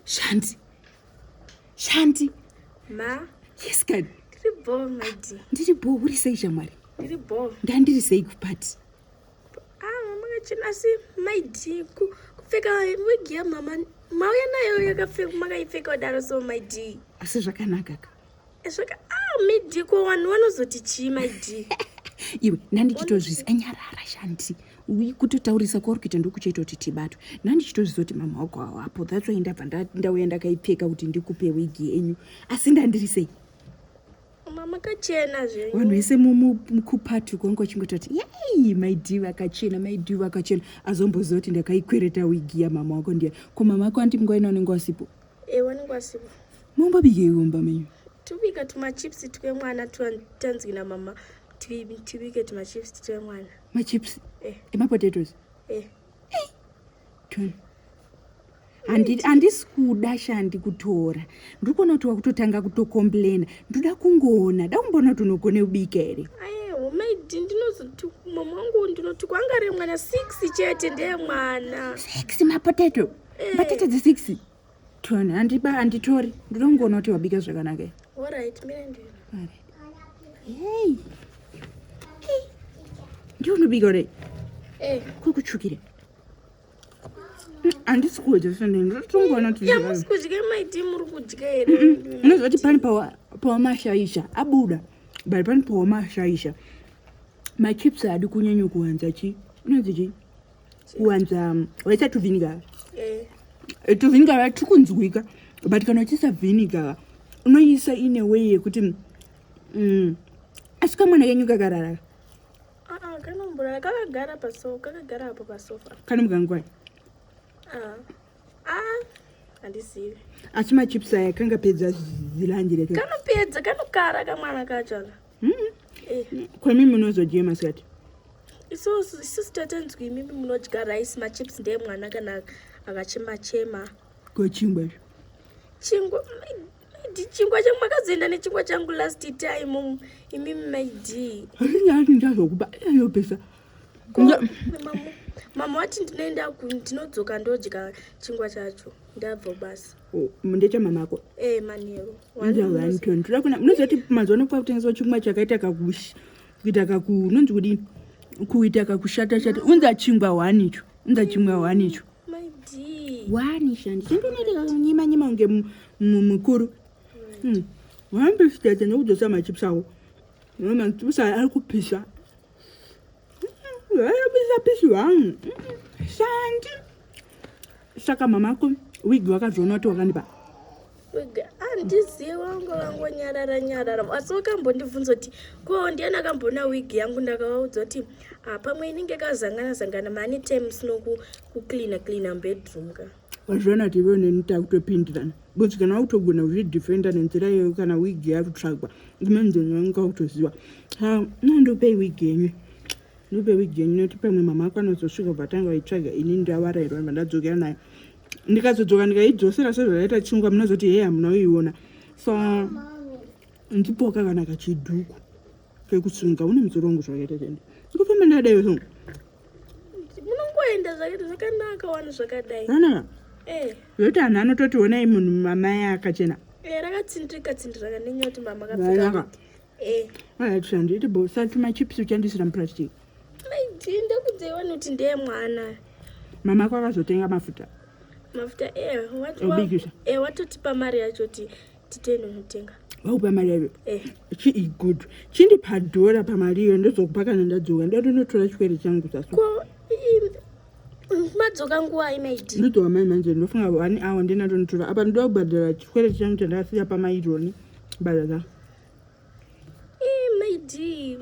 Shanti. Shanti. Ma. Yes, God. Ndiri bho, my dear. Ndiri bho, uri sei shamwari? Ndiri bho. Ndandiri sei kupati? Ah, makachena asi my dear kupfeka wig yamama mauya nayo yakapfeka makaipfeka kudaro so my dear. Asi zvakanaka ka. Svika ah midi ko vanhu vanozoti chii my dear. Iwe nandichitozvizi anyarara shanti. Uyi kutotaurisa kwauri kuita ndokuchaita kuti tibatwe. Nandichitozvizi kuti mama wako hawapo. That's why ndabva ndauya ndakaipfeka kuti ndikupe wig yenyu. Asi ndandiri sei? Mama kachena zvenyu. Vanhu vese mukupati kwangu vachingototi yay my dear vakachena my dear vakachena azombozoti ndakaikwereta wig ya mama wako ndiya. Ko mama wako anti mngoina unenge wasipo. Ewa ningwasiwa. Mumba bike yomba menyu. Tubika tuma chips twe mwana tanzwi na mama. Tubike tuma chips twe mwana. Ma chips. Eh. Ema potatoes. Eh. Eh. Tun. Andi andi skuda shandi kutora. Ndikona kuti wakutotanga kuto complain. Ndoda kungona. Da kumbona tunogone ubika ere. Aye maidi ndinozoti mama wangu ndinoti kwangare mwana six chete ndeye mwana six mapotato batete dze six tone handiba handitori ndoda kungoona kuti wabika zvakanaka hei ndiwe unobika ure eh. kuri kutsvukira handisi kudya sendondotongoona kudya maiti muri kudya here unoziva kuti pani pawamashaisha abuda but pani pawamashaisha machips adi kunyanya kuwanza chi inonzi chii kuwanza waisa tuviniga eh. eh, tuviniga va tiri kunzwika but kana uchiisa viniga unoisa ine way yekuti mm, asi kamwana kenyu kakarara ah, ah, kanomborara kakagara pasofa kakagara apo pasofa kanomuka ngwai handizivi asi machips aya kangapedza zilanje rekanopedza kanokara kamwana kacho mm-hmm. kwemi munozodyei masikati isusu tatanzwi imimi munodya rice machips ndeye mwana kana akachema chema ko chingwa izvo chingwa maidi chingwa changu makazoenda nechingwa changu last time imimi maidi hainyati ndazokupa ayopesa mama wati ndinoenda ndinodzoka ndodya chingwa chacho ndabva basa Oh, ndechamama ako eh, toda kuna munoziva kuti mazuva ano kwakutengeswa chingwa chakaita kakush kuita kaku unonzi kudini kuita kakushata shata unza chingwa hwani icho unza chingwa hwani icho hwani shandi chindonoita kakunyima nyima kunge mukuru hmm. wambesitete nekudzosa machips ako machips aya ari kupisa Vaibusapishi wangu shandi saka mamako wig wakazoona kuti wakandipa handizivi wangu vangonyarara nyarara asi wakambondibvunza kuti ko ndiani akamboona wig yangu ndakavaudza kuti ah, pamwe inenge kazangana zangana mani times nokucleana cleana bedroom ka Wazviona kuti iwewe neni takutopindirana because kana wakutogona kuzvidefenda nenzira iyoyo kana wig yakutsvagwa ndimenzenyu wangu kwakutoziva ha no ndopei wig yenyu ndopei wig yenyu nekuti pamwe mama ako anozosvika kubva tanga vaitsvaga ini ndavarairwa ibva ndadzokera nayo ndikazodzoka ndikaidzosera sezvakaita chingwa munozoti hei hamuna kuiona so ndipoka kana kachiduku kekusunga une musoro wangu zvakaita chende ndikufamba ndadaiwe so munongoenda zvakaita zvakanaka wani zvakadai no no no eh yoti anhu anototi onai munhu mama yake akachena eh rakatsindika tsindira kanenya kuti mama akapfeka eh ah tsandi ite bo salt my chips uchandisira muplastic ai tinda kudze wani kuti ndiye mwana mama kwakazotenga mafuta mafuta eh wati eh watotipa mari yacho ti titende unotenga vakupa mari yayo eh. chii good chindipa dhora pamari iyo ndozokupa kana ndadzoka ndoda unotora chikwere changu sasu madzoka nguva imaidi ndodzoka mai manje ndofunga one hour ndina ndonotora apa ndoda kubhadhara chikwere changu chandakasiya pamaironi bhadha za maidi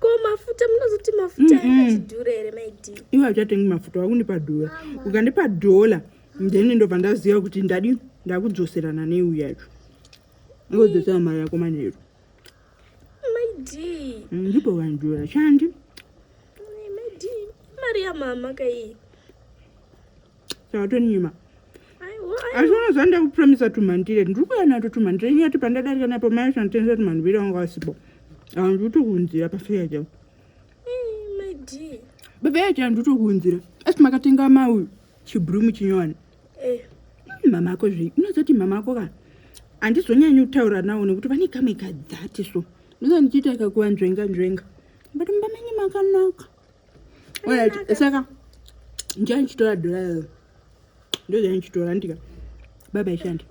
ko mafuta munozoti mafuta akachidhura here maidi iwe hauchatengi mafuta wakundipa dhora ukandipa dhola then ndobva ndaziva kuti ndadi ndakudzoserana neu yacho ngodzosera mari yako manheru ndipo vanhu vashandi mari yamama kai sakatonyima asi unoziva ndakupromisa tumhandire ndiri kuya nato tumhandire nyati pandadarika napo mai shanditenza tumhandire wanga wasipo anditokunzira pafeya chavo pafeya chavo nditokunzira asi makatenga mauyu chibrumu chinyowani eh. hmm, mama ako zvei unozoti mama ako ka handizonyanyi kutaura nawo nekuti vane kamwe kadzati so ndizo ndichiita kakuva nzvenga nzvenga but mumba menyu makanaka orit saka ndiya ndichitora dhora iro ndoziva ndichitora ndika baba ishandi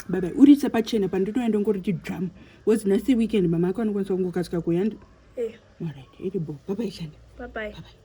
baba uritse pachena panditoenda ngoriti dzamu was nasi weekend mama ako anokwanisa kungokasika kuyandi eh. orit iri bo baba ishandi bye bye. Bye bye.